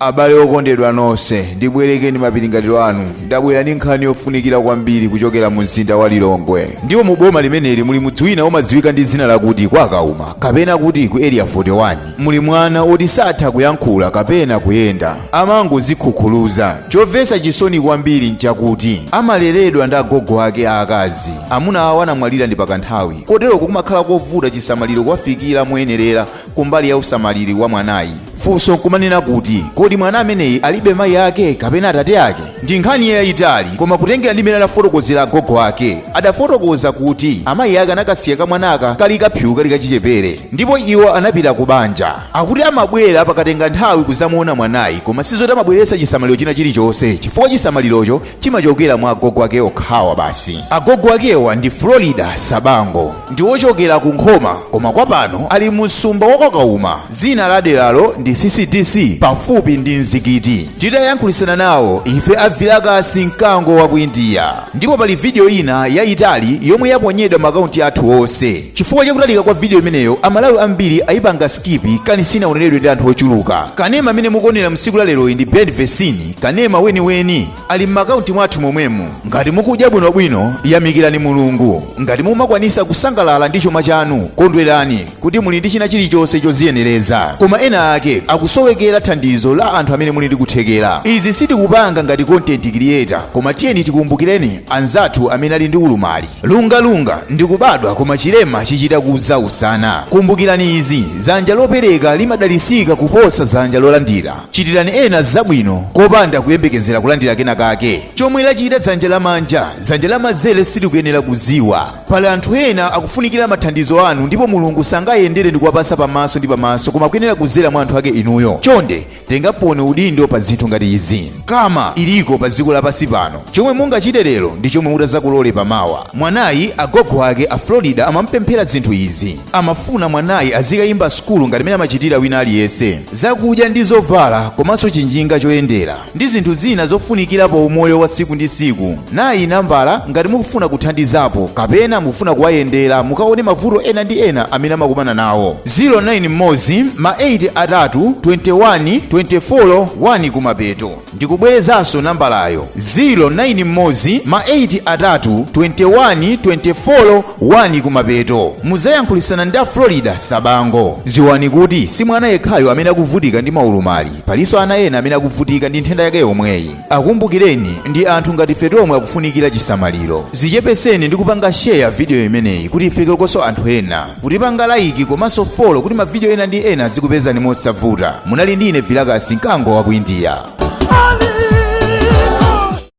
abale okondedwa nonse ndibwerekeni mapiringatiro anu ndabwera ndi nkhani yofunikira kwambiri kuchokera mu mzinda wa lilongwe ndipo mu boma limeneli muli mudzi wina omadziwika ndi dzina lakuti kwa kauma kapena kuti ku area 41 muli mwana oti satha kuyankhula kapena kuyenda amangozikhukhuluza chomvetsa chisoni kwambiri nchakuti amaleredwa ndi agogo ake aakazi amuna awo anamwalira ndi pakanthawi koteroko kumakhala kovuta chisamaliro kuwafikira moyenerera kumbali ya usamaliri wa mwanayi funso nkumanena kuti kodi mwana ameneyi alibe mayi ake kapena atate ake ndi nkhani yayitali koma kutengera ndi mene adafotokozera agogo ake adafotokoza kuti amayi ake anakasiya kamwanaka kali kaphiwu kali kachichepere ndipo iwo anapita ku banja akuti amabwera pakatenga nthawi kuzamuona mwanayi koma sizoti amabweretsa chisamaliro china chilichonse chifukwa chisamalirocho chimachokera mwa agogo ake okhawa basi agogo akewa ndi florida sabango ndi wochokera ku nkhoma koma kwa pano ali mu msumba wakwakauma dzina la deralo ndi ccdc pafupi ndi mzikiti tidayankhulisana nawo ife avilakasi mkango wa ku indiya ndipo pali vidiyo ina yayitali yomwe yaponyedwa makaunti athu onse chifukwa chakutalika kwa vidiyo imeneyo amalawi ambiri ayipanga skipi kanisi sinaoneredwe ndi anthu ochuluka kanema amene mukuonera msiku la leroyi ndi bad version kanema weniweni ali m'makaunti mwathu momwemu ngati mukudya bwinobwino yamikirani mulungu ngati mumakwanisa kusangalala ndi chuma chanu kondwerani kuti muli ndi china chilichonse choziyenereza koma ena ake akusowekera thandizo la anthu amene muli ndi kuthekera izi sindikupanga ngati content creator koma tiyeni tikumbukireni anzathu amene ali ndi ulumali lungalunga ndi kubadwa koma chilema chichita kuzausana kumbukirani izi zanja lopereka limadalisika kuposa zanja lolandira Chitirani ena zabwino kopanda kuyembekezera kulandira kena kake. Chomwe lachita dzanja lamanja, dzanja lamazere silikuyenera kuziwa. Pali anthu ena akufunikira mathandizo anu ndipo Mulungu sangayendere ndikuwapasa pamaso ndi pamaso koma kuyenera kuzera mwa anthu ake inuyo. Chonde, tengaponi udindo pa zinthu ngati izi. Karma iliko pa dziko lapansi pano. Chomwe mungachite lero ndi chomwe mutazakolole pa mawa. Mwanayi, agogo ake a Florida amamupemphera zinthu izi. amafuna mwanayi azikayimba sukulu ngati mene amachitira wina aliyense zakudya ndi zovala komanso chinjinga choyendera ndi zinthu zina zofunikira pa umoyo wa tsiku ndi tsiku nayi nambala ngati mukufuna kuthandizapo kapena mukufuna kuwayendera mukaone mavuto ena ndi ena amene amakumana nawo 09 mmodzi ma 8 atatu 21 24 1 kumapeto ndikubwerezanso nambalayo 0 9 mmodzi ma 8 atatu 21 24 1 kumapeto muzayankhulisana ndi a florida sabango dziwani kuti si mwana yekhayo amene akuvutika ndi maulumali palinso ana ena amene akuvutika ndi nthenda yake yomweyi akumbukireni ndi anthu ngati ife tomwe akufunikira chisamaliro zichepeseni ndi kupanga sheya vidiyo imeneyi kuti ifikekonso anthu ena kutipanga like komanso follow kuti mavidiyo ena ndi ena zikupezani mosavuta munali ndi ine vilakasi mkango wa ku India